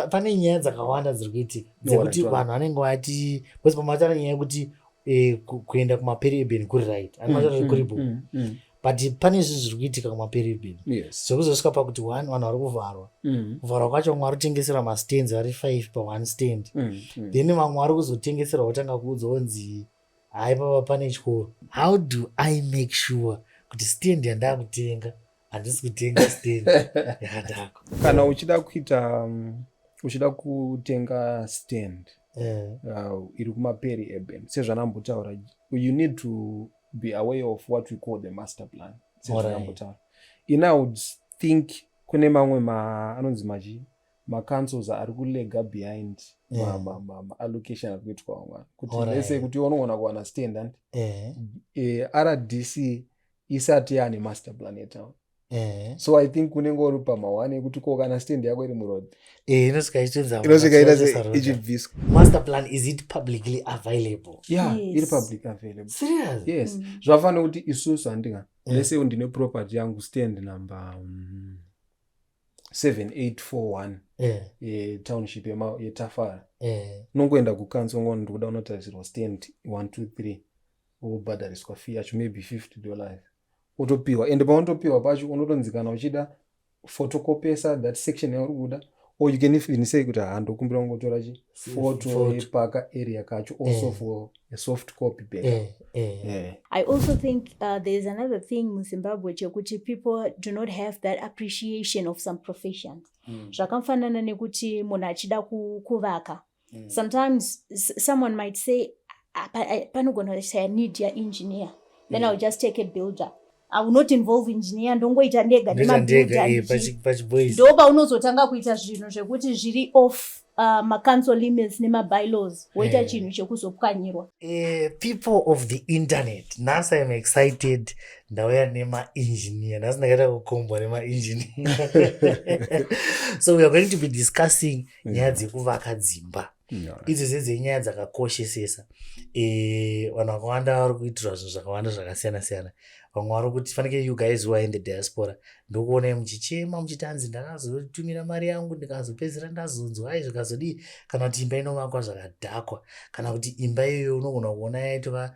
pane nyaya dzakawanda dziri kuitika dzekuti vanhu vanenge vati bcause pamatara nyaya yekuti eh, kuenda kumapereben kuri right mm, amatara mm, kuri bo mm, but pane izvi zviri kuitika kumapereben zvekuzosvika pakuti one vanhu vari kuvharwa kuvharwa kwacho vamwe vari kutengesera mastands vari five paone stand then vamwe vari kuzotengesera votanga kuudza onzi haipava pane chikoro how do i make sure kuti stand yandakutenga handisi kutenga stand yakadako kana uchida kuita um, uchida kutenga stand eh. uh, iri kumaperi eben sezvanambotaura you need to be aware of what we call the master plan sezvanambotaura in i would think kune mamwe ma anonzi machi macancels ari kulega behind yeah. maallocation ari kuitwa vamwana kuti lese kuti unoona kuwana stand and eh. eh, rdc isati yaane master plan yetown eh. so i think unenge uri pamahwani ekuti ko kana stand yako iri muroad eh, inosvika ichibviswa master plan is it publicly available yeah yes. iri public available serious yes mm. zvafanira kuti isusu handinga mm. lese mm. ndine property yangu stand number um, 7841 yeah. yetownship yetafara yeah. unongoenda kukanso ngoni ndikuda unotarisirwa stand 123 wobhadhariswa fee yacho maybe 50 dollars wotopiwa and paunotopiwa pacho unotonzikana uchida photocopesa that section yauri kuda or you can even say kuti haa ndokumbira kungotora chi photo yepaka area kacho also eh. for a soft copy back eh, eh. yeah. i also think uh, there is another thing muzimbabwe chekuti people do not have that appreciation of some professions hmm. zvakamfanana mm. nekuti munhu achida kuvaka mm. sometimes someone might say ah, eh, panogona kushaya need yaengineer then mm. ill just take a builder i will not involve engineer ndongoita ndega nemabuilderndopaunozotange eh, kuita zvinhu zvekuti zviri off uh, macouncil limits nemabylaws woita yeah. chinhu chekuzopwanyirwa uh, people of the internet nhasi im excited ndauya nemaengineer nhasi ndakaita kukombwa nemaengineer so weare going to be discussing nyaya dzekuvaka dzimba idzo dzedzei nyaya dzakakoshesesa eh, vanhu vakawanda vari kuitirwa zvinhu zvakawanda zvakasiyana siyana vamwe vari kuti fanike you guys who are in the diaspora ndokuonai muchichema muchiti hanzi ndakazotumira mari yangu ndikazopedzisira ndazonzwa ai zvikazodii kana kuti imba inovakwa zvakadhakwa kana kuti imba iyoyo unogona kuona yaitova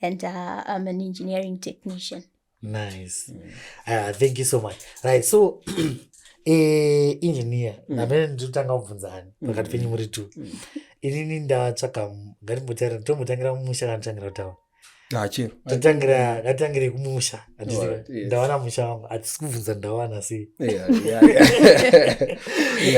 and uh, I'm an engineering technician. Nice. Mm. Uh, thank you so much. Right, so eh, engineer mm. namene nditotanga kubvunza ani mm. pakati penyu muri two mm. inini ndatsvaka ngatimbotaira tombotangira mumusha kana totangira kutaura achero ah, tatangira ngatangire kumusha ndawana musha wangu hatisi kubvunza ndawana sei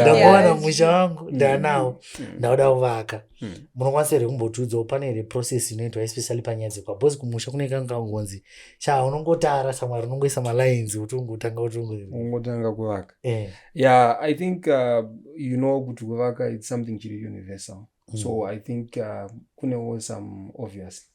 ndawana musha wangu ndanawo mm. ndauda kuvaka Hmm. munokwanisa here kumbotiudzawo pane here process inoitwa especially panyaya dzekwa bcause kumusha kune kangangonzi cha unongotara samwari unongoisa malines kuti ungotanga kutiungotanga kuvaka eh. yeah i think uh, you know kuti kuvaka its something chiri universal mm. so i think uh, kunewo some obviously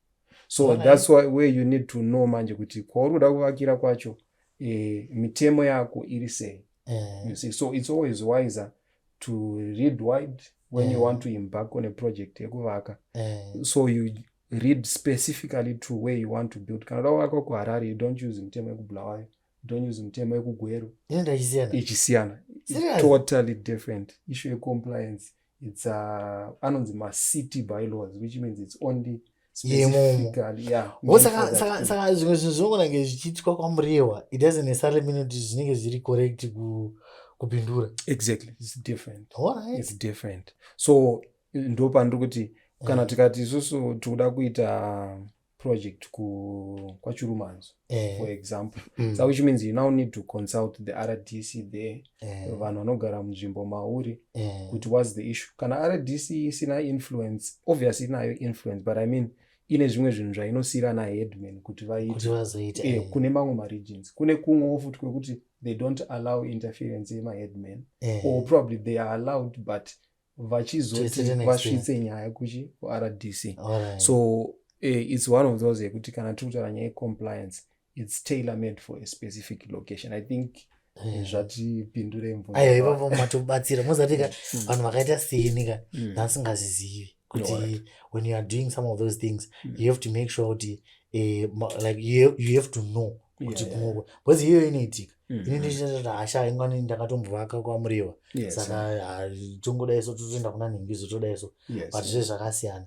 so right. thats why where you need to know manje kuti kwauri kuda kuvakira kwacho eh, mitemo yako iri sei eh. you see so it's always wiser to read wide when eh. you want to embark on a project yekuvaka eh. so you read specifically to where you want to build kana uda kuvaka kuharare you don't use mitemo yekubulawayo don't use mitemo yekugweru ichisiyana totally different issue yecompliance it's uh, anonzi macity bylaws which means it's only saka zvimwe zvinhu zvinongonange zvichiitwa kwamurewa it doesn't necessarily mean kuti zvinenge zviri correct kupindura exactly it's different right. it's different so ndo pandiri kuti kana mm. tikati isusu tikuda kuita project ku kwachurumanzo eh. for example mm. so which means you now need to consult the rdc there eh. vanhu vanogara munzvimbo mauri eh. kuti whats the issue kana rdc isina influence obviously inayo influence but i mean ine zvimwe zvinhu zvainosiyira naheadman kuti vaite eh, eh. kune mamwe maregions kune kumwewo futi kwekuti they don't allow interference yemaheadman eh. or probably they are allowed but vachizoti vasvitse nyaya kuchi kuRDC right. so uh, it's one of those yekuti kana tiri kutaura nyaya yecompliance it's tailor made for a specific location i think eh, zvatipindure mvuayo ipapo matobatsira mozati ka mm. vanhu vakaita seni ka mm. nasingazizivi kuti when you are doing some of those things mm. you have to make sure kuti uh, like you have, you have to know kuti kumukwe bcause iyoyo inoitika mm-hmm. ini ndichiita hasha ingwani ndakatombovaka kwamuriwa saka ah, tongodai so totoenda kuna nhingi zotoda so but zve zvakasiyana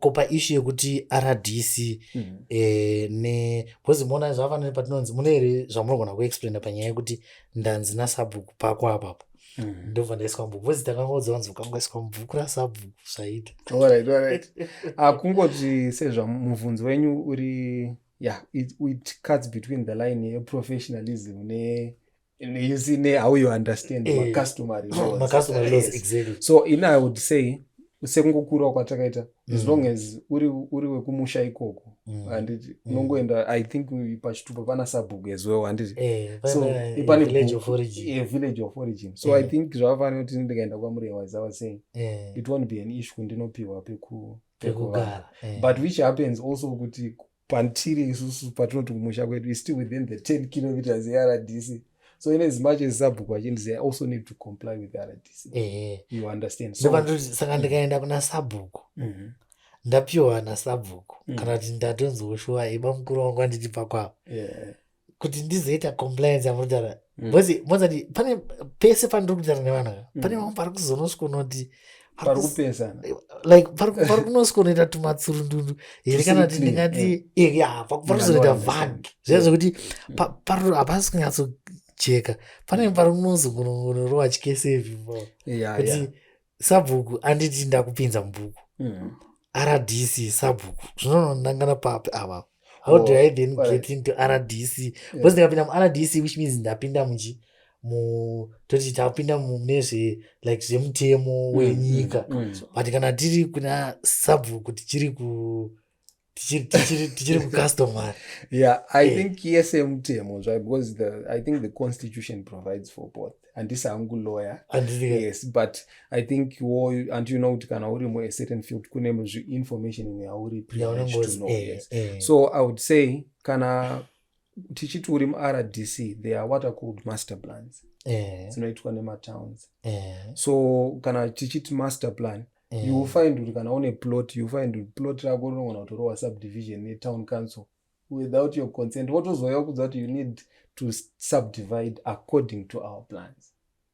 ko paishu yekuti rdc mm-hmm. eh, ne bcause mona zvavafanire patinonzi mune here zvamunogona kuexplaina panyaya yekuti ndanzi nasabhuku pako apapo Mm. ndobva ndaiswa mubhuku vozi takangodza vanzi ukangoiswa mubhuku rasabhuku zvaita akungozi sezvamubvunzi wenyu uri yeah it, it cuts between the line yeprofessionalism ne you see ne how you understand eh, macustomary lawsmacustomary laws yes. exactly so in i would say sekungokurawo kwatakaita mm. as long as uri, uri wekumusha ikoko mm. handiti mm. unongoenda mm. i think pachitupa pana sabhuku as well handiti eh, so eh, pane village of origin yeah, village of origin so eh. i think zvavafanira kuti ndikaenda kwamuri was i was saying eh. it won't be an issue ndinopiwa pekuu pekugara eh. but which happens also kuti patiri isusu patinoti kumusha kwedu is still within the 10 kilometers eRDC so in as much as sabhuku vachinzi they also need to comply with rdc eh. you understand so saka ndikaenda kuna sabhuku mhm. ndapiwa nasabhuku mm. kana kuti ndatonzwa shuwa iba mukuru wangu anditi pakwavo kuti ndizoita compliance yamunotaura mm. bcause mozati pane pese pandiri kutaura nevana mm. pane vamwe pari kuzonosvikonoti like pari kunosvikonoita tumatsurundundu here kana kuti ndingati eh. eh, pari kuzonoita vag zviya zvekuti mm. hapasi kunyatsojeka pane pari kunozogonorova chikesevi kuti sabhuku anditi ndakupinza mubhuku mm. rdc sabhuku zvinonondangana papi ava how oh, do i then right. get into rdc yeah. because ndikapinda murdc which means ndapinda muchi toti tapinda mune zve like zvemutemo mm, wenyika mm, mm. but kana tiri kuna sabhuku tichiri ku tichiri kucustomary yeah i eh. think yese mutemo zva because the, i think the constitution provides for both handisi hangu lawyer yes but i think wo anti you know kuti kana uri mu a certain field kune zvi information imwe yauri privilege to know eh, yes eh. so i would say kana tichiti uri muRDC there are what are called master plans eh. dzinoitwa eh. nematowns eh. so kana tichiti master plan eh. you will find kuti kana une plot you find kuti plot rako rinogona kutorowa subdivision netown council without your consent wotozouya kudza kuti you need to subdivide according to our plans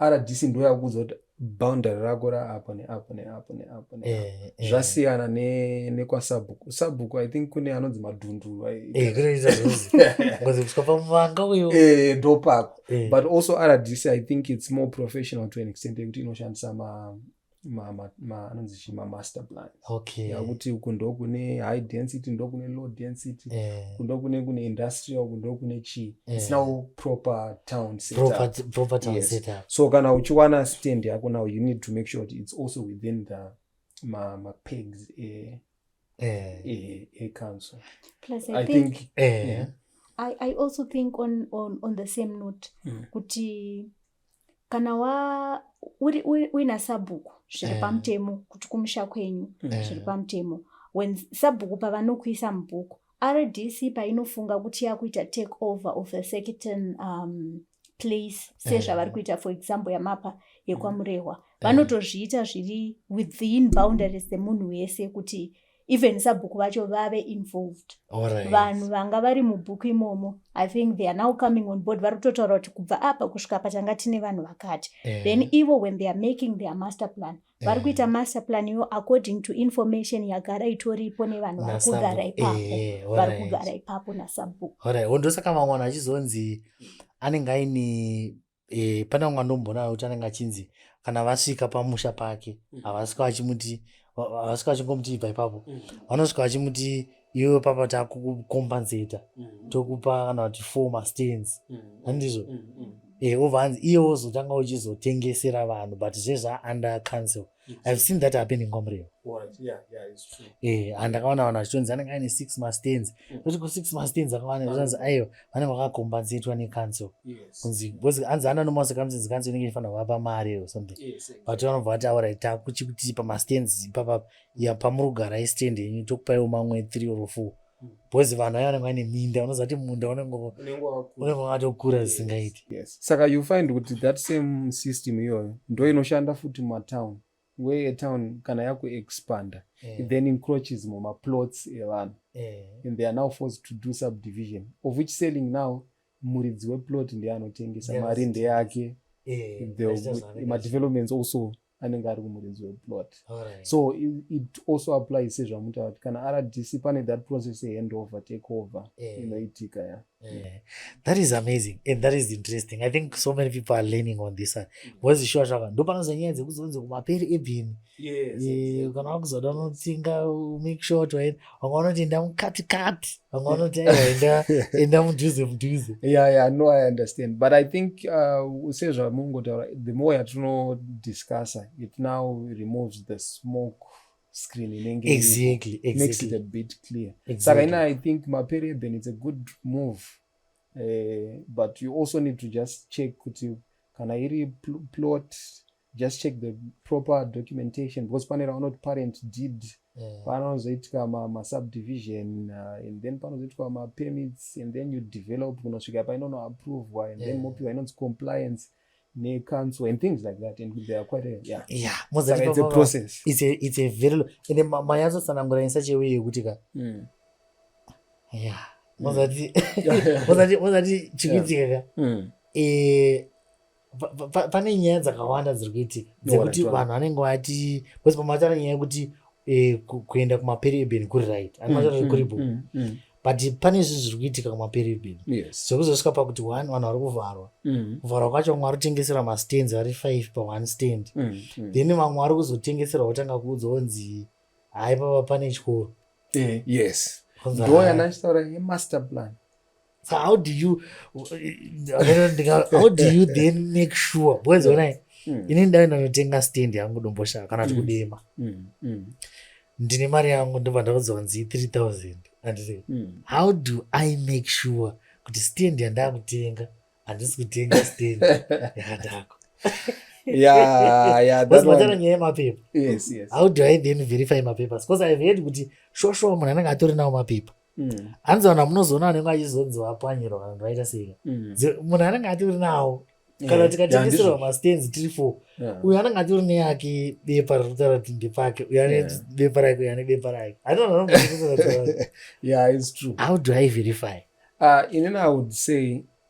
rdc ndo yakuudza kuti boundary rako raapo neapo neapo neapo ne eh, eh. zvasiyana ne, nekwasabhuku sabhuku i think kune anonzi madhunduru kusvikapaanga eh, uyo e, ndopako e. but also rdc i think its more professional to an extent yekuti inoshandisa ma anonzi chi mamaster plan okay. yakuti uku ndokune high density ndokune low density eh. kundokune kune industrial kundokune chii eh. it's now proper town setup. Proper, town yes. setup. so kana uchiwana stand yako now you need to make sure it's also within the mapegs ma eh, ecouncil plus i, I think, think eh. yeah. I, i also think on, on, on the same note mm. kuti kana wa uri uina sabhuku zviri eh. pamutemo kuti kumusha kwenyu eh. zviri pamutemo when sabhuku pavanokuisa mubhuku rdc painofunga kuti yakuita take over of a certain um, place sezvavari eh. kuita for example yamapa yekwamurehwa eh. vanotozviita zviri within boundaries dzemunhu wese kuti even sabhuku vacho vave involved vanhu vanga vari mubhuku imomo i think they are now coming on board vari kutotaura kuti kubva apa kusvika patanga tine vanhu vakati eh. then ivo when they are making their master plan mm. vari eh. kuita master plan yo according to information yagara itoripo nevanhu vari kugara ipapo eh, vari kugara ipapo nasabhuku orit wondosaka vamwe vanhu vachizonzi anenge aine eh, pane vamwe vandombonayo kuti anenge achinzi kana vasvika pamusha pake mm. havasvika vachimuti havasvika vachingomuti ibva ipapo mm. vanosvika vachimuti iwe papa takukukompensata mm. tokupa kana kuti four mastands mm. handizvo mm, mm. e obva hanzi iye wozotanga uchizotengesera vanhu but zvezvaunder council ihave seen that happening kwamureva e and ndakaona vanhu vachitonzi anenge aine six mastands mm. toti ku six mastands akawana zvanzi aiwa vanenge vakakompensatwa necouncil kunzi bcause anzi ana nomaso kamsinzi council inenge ifanira kuvapa mari or something but vanobva vati aura takuchikutipa mastands ipapapa ya pamurugara istand yenyu tokupaiwo mamwe three or four because vanhu ayo vanenge vane minda unoziva kuti munda unenge wakatokura zvisingaiti saka you find kuti that same system iyoyo ndo inoshanda futi mumatown where town kana yakuexpanda yeah. it then encroaches mumaplots evanhu yeah. and they are now forced to do subdivision of which selling now muridzi weplot ndiye anotengesa mari ndeyake yeah. madevelopments also anenge ari kumuridzi weplot right. so it, it also applies sezvamuta vati kana rdc pane that process yehandover take over eh. inoitika yeah. ya eh. yeah. that is amazing and that is interesting i think so many people are learning on this bcause shuwa zvaka ndo panoza nyaya dzekuzonzi kumaperi ebhini eh, kana wakuzoda unotsinga make sure kuti wanga unoti ndamukatikati vamwe vanoti aiwa enda mudhuze mudhuze yeah, yeah, no i understand but i think uh, sezvamungotaura the more yatinodiscussa it now removes the smoke screen inenge exactly, exactly. makes it a bit clear exactly. saka ina i think maperiod then it's a good move uh, but you also need to just check kuti kana iri pl plot just check the proper documentation because pane ravanoti parent deed yeah. panozoitika masubdivision ma uh, and then panozoitika mapermits and then you develop kunosvika painonoapprovwa and yeah. then mopiwa inonzi compliance necouncil and things like that and they are quite a, yeah. Yeah. Like it's a process it's a, it's a very long and then mayazo sanangura in such a way yekuti ka mm. yeah mozati mm. mozati mozati chikuitika ka mm. eh pane nyaya dzakawanda dziri kuitika dzekuti vanhu vanenge vati bcause pamatara nyaya yekuti eh, kuenda kumapereben kuri right mm, amatara mm, kuri bo mm, but pane izvi zviri kuitika kumapereben zvekuzosvika pakuti one vanhu vari kuvharwa kuvharwa kwacho vamwe vari kutengesera mastands vari five paone stand then vamwe vari kuzotengesera votanga kuudza onzi hai papa pane chikoro eh, yes ndoyanachitaura yemaster plan so how do you how do you then make sure because when i mm. ini ndave ndanotenga stand yangu domboshava kana kuti mm. kudema mm. mm. ndine mari yangu ndobva ndakuzonzi 3000 anditi mm. how do i make sure kuti stand yandakutenga handisi kutenga stand yakadako yaaatara nyaya yemapepa how do i then verify mapepa because ive heard kuti shoshoa munhu anenge atori nawo mapepa mm. hanzi vanhu vamunozoona vanenge vachizonzi vapwanyirwa vanhu vaita seika mm. munhu anenge atori nawo kana tikatengeserwa mastands tiri four uyo anenge atori neyake bepa riri kutaura kuti ndepake uyo ane bepa rake uyo ane bepa rake yeah it's true how do i verify uh, inini i would say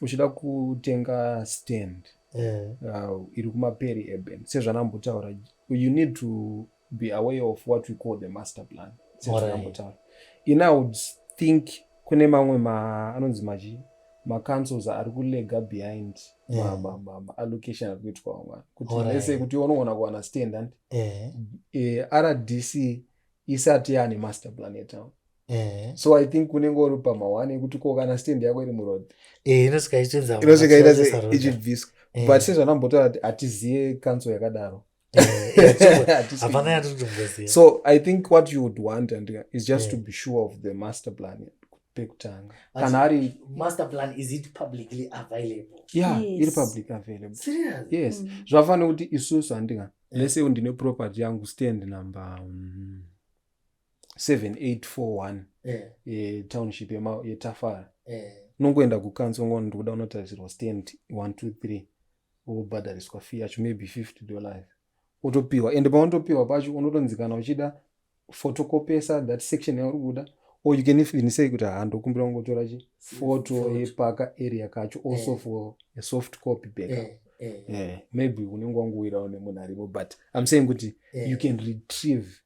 uchida kutenga stand eh. uh, iri kumaperi eben sezvanambotaura you need to be aware of what we call the master plan sezvanambotaura in i would think kune mamwe ma anonzi machi macancels ari kulega behind yeah. maallocation ari kuitwa vamwana kuti vese kuti unogona kuwana stand andi yeah. e, rdc isati yaane master plan yetown Eh. so i think unenge uri pamahwani ekuti ko kana stand yako iri muroad eh, inosvika ichibviswa eh. but sezvanambotaura kuti hatizive kanso yakadaro so i think what you would want and is just yeah. to be sure of the master plan pekutanga kana ari master plan is it publicly available yeah yes. iri public available Serious? yes mm. zvafana kuti isusu handinga lese ndine property yangu stand number mm. 7841 eh. yetownship yetafara eh. unongoenda kukanso ngona ndikuda unotarisirwa stand 123 wobhadhariswa fee yacho maybe 50 dollars wotopiwa and paunotopiwa pacho unotonzikana uchida fotokopesa that section yauri kuda or you can even say kuti haa ndokumbira kungotora chi foto yepaka area kacho also eh. for a soft copy backup maybe unenge wanguwirawo nemunhu arimo but im saying kuti you can retrieve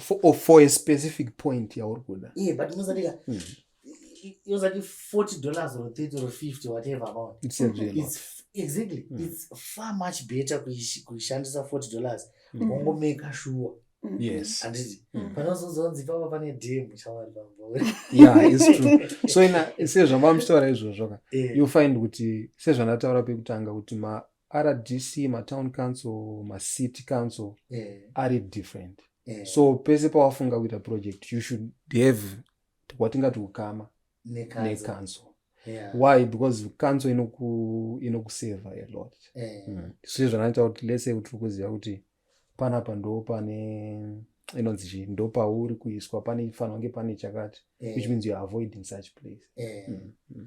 for, oh, for a specific point yauri kuda yeah, but unozatika mm -hmm. yozati 40 dollars or 30 or 50 whatever amount it's, mm -hmm. it's exactly mm -hmm. it's far much better kuishandisa 40 dollars mm -hmm. wongomeka shuwa mm-hmm. yes anditi mm. panozozonzi papa pane dem shamwari pambo yeah it's true so ina sezvambamuchitaura izvozvo ka eh. you find kuti sezvandataura pekutanga kuti ma rdc matown council macity council yeah. ari different yeah. so pese pawafunga kuita project you should have kwatingati ukama necouncil yeah. why because council inokuseva ino a lot yeah. mm. so zvanaita kuti lese tiri kuziva kuti panapa ndo pane inonzi chii ndo pauri kuiswa pane fanira kunge pane chakati yeah. which means youare avoiding such place yeah. mm. mm.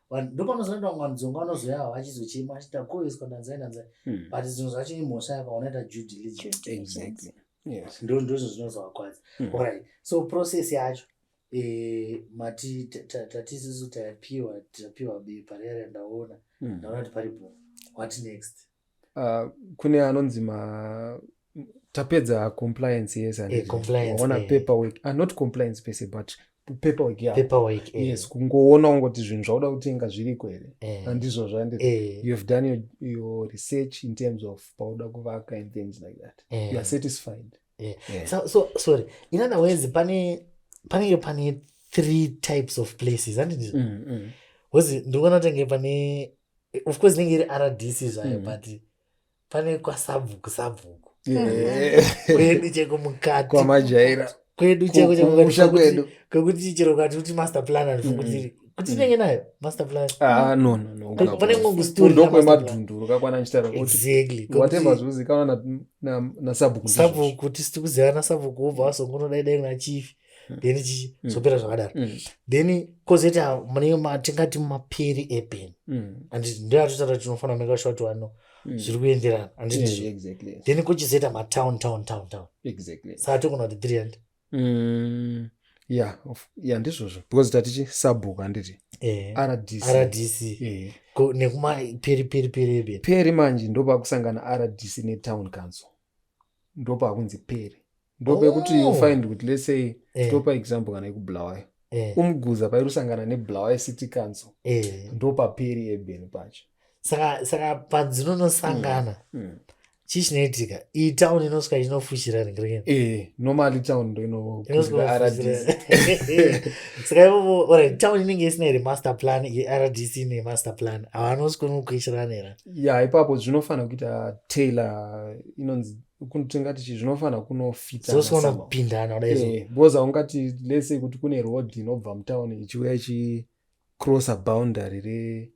ndopanozoenda vamwe vanhu dzonga vanozoyawo achizochema achiti takoeswa ndanzai ndanzai hmm. but zvinhu zvacho imhosva yakaunaita due diligence ndo ndozvo zvinozovakwadza hmm. orit so process yacho eh, mati tatisisu tapiwa tapiwa bepa riya randaona hmm. ndaona kuti pari bho what next uh, kune anonzi ma tapedza compliance yes eh, ona eh. paperwork uh, not compliance pese but paperwork yeah. paperwork eh. yes kungoona ungoti zvinhu zvauda kutenga zviriko here eh. andizvo zvandi eh. you have done your, your research in terms of pauda kuvaka and things like that eh. you are satisfied eh. Yeah. So, so, sorry in other words pane panenge pane three types of places andizvo mm, mm. wezi ndikuona tenge pane of course inenge iri rdc zvayo mm. but pane kwasabvuku sabvuku kwedu cheko mukati kwamajaira kwedu cheko chekokwedu kwekuti chero kati kuti master plan andifunguti kuti mm. inenge nayo master plan ah, no no no pane ngongo story ndo kwemadhundu rokakwana nchitara kuti exactly whatever zvozikanwa na na sabvuku sabvuku kuti sitikuzivana sabvuku ubva wasongonoda idai na chief mm. then chichizopera mm. zvakadaro mm. then kozoita mune matingati mapiri eben mm. and ndoyatotaura tinofanira make sure kuti wano mm. zviri kuenderana andizvo yeah, exactly, yes. then kuchizoita matown town town town exactly. saa tokona kuti three hundred mm ya ya ndizvozvo because tatichi sabhuku handiti eh, rdc rdc eh. nekuma peri peri peri peri peri manje ndopakusangana rdc netown council ndopakunzi peri ndopekuti oh. ufind kuti let's say eh. topa example kana yekubulawayo eh. umguza pairi kusangana nebulawayo city council eh. ndopaperi ebeni pacho saka saka padzinonosangana mm. mm. chii chinoitika iyi town inosvika inofushira ringirini eh, normally town ndo inofushira saka ivovo orit town inenge isina here master plan irdc ine master plan havanosvika nokuishiranira ya ipapo zvinofanira kuita tailor inonzi kuntingati chi zvinofanira kunofitana kupindana kudai so eh, because haungati let's say kuti kune road inobva mutown ichiuya ichi crosser boundary re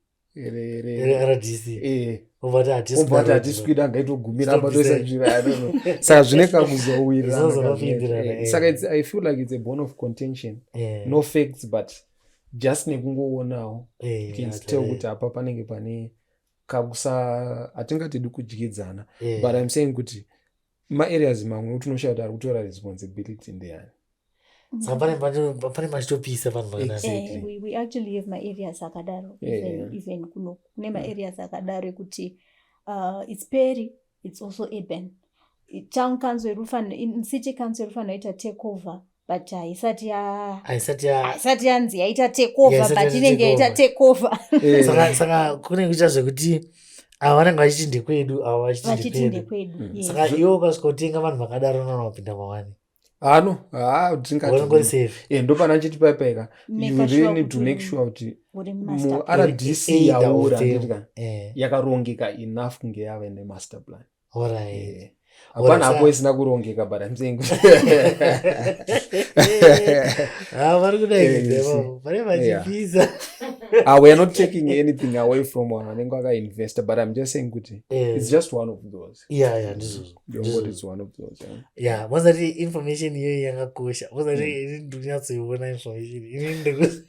rdcatisikwida ngaitogumira apa toisa nzvira yadono saka zvine kakuzowirasaka eh, i feel like it's a bone of contention eh. no facts but just nekungoonawo eh, can tell kuti apa panenge pane kakusa hatingatidi kudyidzana yeah. but im saying kuti maareas mamwe utinoshaya kuti ari kutora responsibility ndeyani pane machitopisa vanhu vaareas akadaro even kuno kune maareas akadaro ekuti uh, its peri its also urban town council irufano city council irufano ita take over but haisati yahaisati yanzi yaita take over but inenge yaita take over eh. saka kunenge kuita zvekuti ava vanenge vachiti ndekwedu ava vachiti ndekwedu mm. saka iwe ukasvika utenga vanhu vakadaro nana vapinda mawani ano haa ndingatiindopanaa chiti paipaika you really need to make sure kuti murdc yaura ndidya eh. yakarongeka enough kunge yave nemaster plan eh. hapana hapo isina kurongeka but im saying ah, vari kudaivachipisa ah, weare not taking anything away from one anenge akainvesta but im just saying kuti eh. its just one of those yeah yeah ndizvozvo yeah vazati information iyoyi yakakosha vazati hmm. ini ndonyatsoiona information ini ndikusi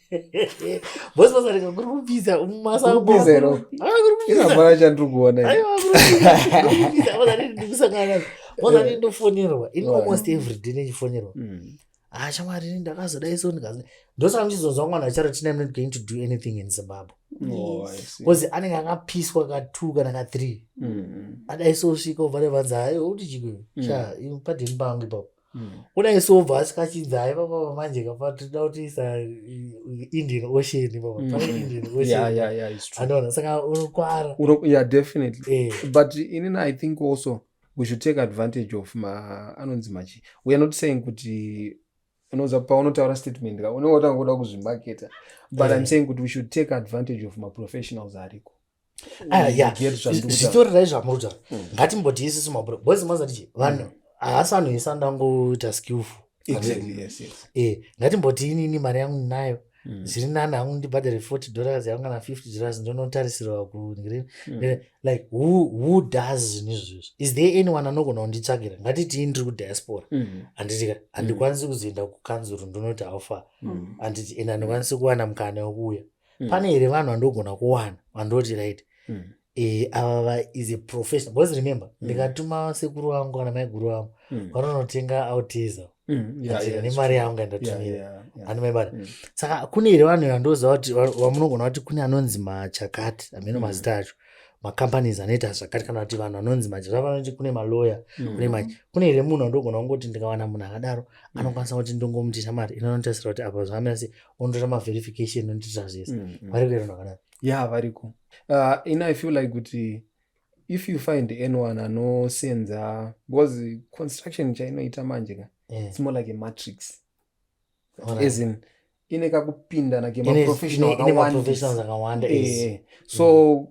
bosi vazati kuri kupisa mumasakupisairambara chandiri kuona vazati ndikusangana vazati ndofonerwa ini almost every day nechifonerwa hmm. ah shamwari ini ndakazodai so ndikazi ndosaka muchizonzwa mwana charoti name not going to do anything in zimbabwe bcause oh, anenge akapiswa ka two kana ka three mm. adai so svika obva nevanzi hayi uti chikwe mm. sha padini pangu ipapo mm. udai so obva asikachinzi hayi papapa manje kapa tinoda kuti isa indian ocean ipapa indian ocean anoona saka unokwara yeah definitely eh. but inini i think also we should take advantage of ma anonzi machi weare not saying kuti unoza paunotaura statement ka unenge watanga kuda kuzvimaketa but yeah. im saying kuti we should take advantage of maprofessionals ariko ah, zvitorirai zvamuruta hmm. ngatimbotiisisu mabro boys mazatichi vanhu hmm. haasi anhu ese andangoita skillful exactly, yes, yes. Eh, ngatimboti inini mari yangu ndinayo mm. zviri nani hangu ndibhadhare 40 dollars yangu kana 50 dollars ndonotarisirwa kundirini mm. Eh, like who, who does zvinhu izvozvo is there anyone anogona kunditsvakira ngatitii ndiri kudiaspora mm. anditika mm. handikwanisi kuzoenda kukanzuru ndonoti haufa mm. anditi and handikwanisi kuwana mukana wekuuya mm. pane here vanhu vandogona kuwana vandoti right mm. e, ava is a professional because remember mm. ndikatuma sekuru vangu kana maiguru vangu mm. vanonotenga auteza mm. yeah, yeah, nemari yangu ndatumira yeah, yeah, yeah. andimaibata mm. saka kune here vanhu vandoziva kuti vamunogona kuti kune anonzi machakati ameno mm. mazita acho macompanies anoita zvakati kana kuti vanhu vanonzi manje zvavanoti kune maloya mm. kune manje kune here munhu andogona kungoti ndikawana munhu akadaro mm. anokwanisa kuti ndongomutisha mari inonotarisira kuti apa zvamira sei unotoita maverification unotoita zvese mm, mm. variko here vanhu ya variko uh, in i feel like kuti if you find anyone anosenza because construction chainoita manje ka yeah. it's more like a matrix right. as in ine kakupindana kemaprofessional akawanda eh, so mm.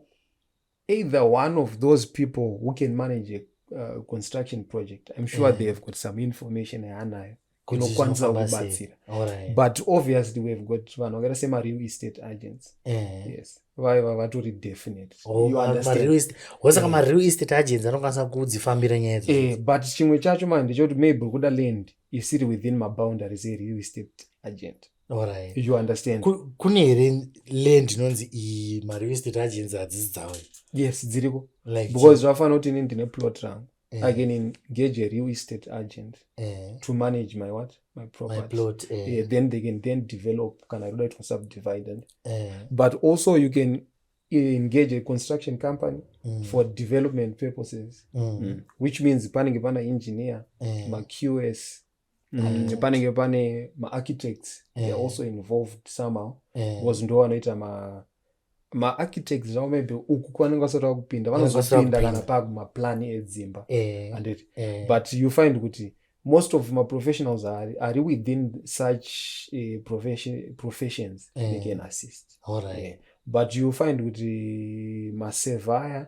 either one of those people who can manage a uh, construction project i'm sure yeah. they have got some information yaanayo inokwanisa kubatsira right. but obviously we've got vanhu vakaita semareal estate agents yeah. yes vaiva vatori definitewosaka oh, mareal estate agents anokwanisa kudzifambira nyaya dzi eh, but chimwe chacho manje ndechekuti maybe kuda land isiri within maboundaries ereal estate agent Alright. You understand? Kune here land inonzi iyi mari vestate agents hadzisi dzavo. Yes, dziriko. Like because zvafana kuti ini ndine plot rangu. Eh. I can engage a real estate agent eh. to manage my what? My property. My plot. Eh. Yeah, then they can then develop kana roda itwa subdivided. Eh. But also you can engage a construction company mm. for development purposes mm. Mm. which means panenge pana engineer eh. maqs and mm. panenge pane maarchitects yeah. they're also involved somehow yeah. because ndo vanoita ma maarchitects zvavo maybe uku kwanenge vasati vakupinda vanozopinda kana pakumaplan edzimba yeah. and it yeah. but you find kuti most of maprofessionals ari, ari within such uh, profession, professions yeah. they can assist right. yeah. but you find kuti masevaya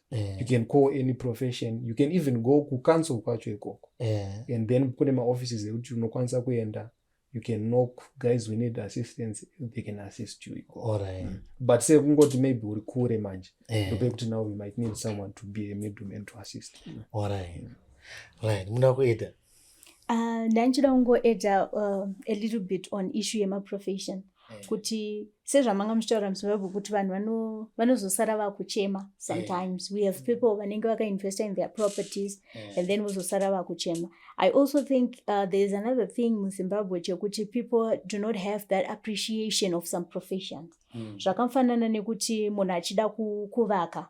yeah. you can call any profession you can even go kucouncil kwacho ikoko yeah. and then kune maoffices ekuti unokwanisa kuenda you can knock guys we need assistance they can assist you ikoko right. mm. but se kungoti maybe uri kure manje yeah. ndopekuti now we might need someone to be a middleman to assist you. right. right. muna kuita Ah, ndandichida uh, kungoedza uh, a little bit on issue yemaprofession eh. kuti sezvamanga muchitaura muzimbabwe kuti vanhu vanozosara vakuchema eh. sometimes we have mm. people vanenge vakainvesta in their properties eh. and then vozosara vakuchema i also think uh, there is another thing muzimbabwe chekuti people do not have that appreciation of some professions mm. zvakafanana nekuti munhu achida kuvaka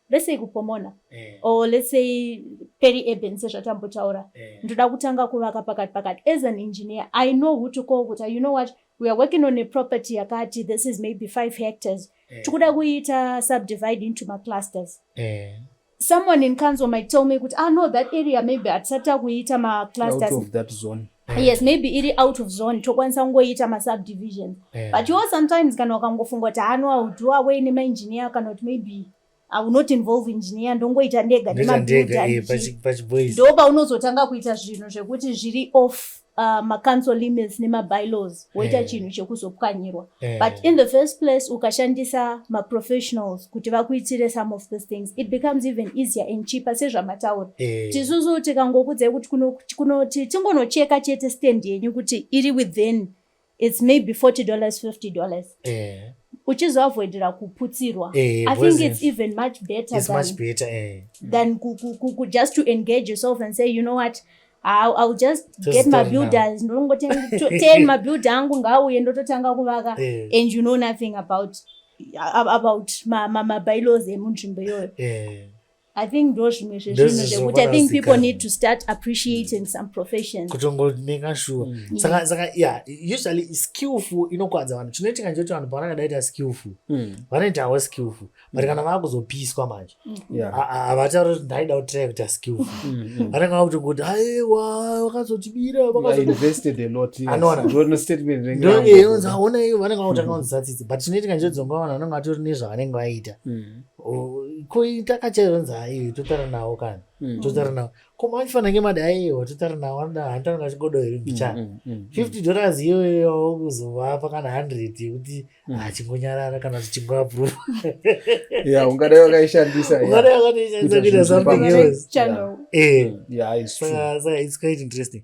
let's say kupomona eh. or let's say peri urban sezvatambotaura eh. ndoda kutanga kuvaka pakati pakati as an engineer i know who to call kuti you know what we are working on a property yakati this is maybe five hectares eh. tikuda eh. kuiita subdivide into maclusters eh. someone in council might tell me kuti ah no that area maybe hatisati takuiita maclusters Eh. yes maybe iri out of zone tokwanisa kungoiita masubdivisions eh. but yo sometimes kana ukangofunga kuti hano ah, audo away nemaengineer kana kuti maybe I will not involve engineer ndongoita ndega nemabuildo eh, paunozotanga kuita zvinhu zvekuti zviri off uh, macouncil limits nemabylaws woita eh. chinhu chekuzopwanyirwa eh. but in the first place ukashandisa maprofessionals kuti vakuitire some of these things it becomes even easier and cheaper sezvamataura eh. tisusu tikangokudzai kuti kunoti tingonocheka chete stand yenyu kuti iri within its maybe 40 dollars 50 dollars uchizoavoidira kuputsirwa eh, i think it's even much better it's than, much better eh. than ku, ku, ku, ku just to engage yourself and say you know what I'll, I'll just Just get my start build now. ndongoten mabuild angu ngaauye ndototanga kuvaka Eh, and you know nothing about ab- about ma- ma- mabylaws emunzvimbo iyoyo eh. i think ndo zvimwe zvezvinhu Ndozvo zvekuti i think people zvakarasikana. need to start appreciating some professions kutongoneka shuwa Mm. saka saka yeah usually skillful inokwadza vanhu chinoitika ndechekuti vanhu pavanenge daita skillful Mm. vanoitawo skillful but kana vakuzopiswa manje havatauri kuti ndaida kutira kuita skill vanenge vakuti kuti aiwa vakazotibira anoonandoonza aona iyo vanenge vakuti anonzi satsitsi but chinoitika njodzonga vanhu vanenge vatori nezvavanenge vaita koitaka chaizonzi aiyo totara nawo kana totara nawo koma vachifana ngemadi aiwa totara nawo anoda handitanonga chigodo here mbichana fifty dollars iyoyo wakuzovapa kana hundred yekuti Mm. achingonyarara kana zvichingwabvu ya ungadai wakaishandisa ungadai wakaishandisa kuita something else yeah. yeah, it's, true. Uh, so it's quite interesting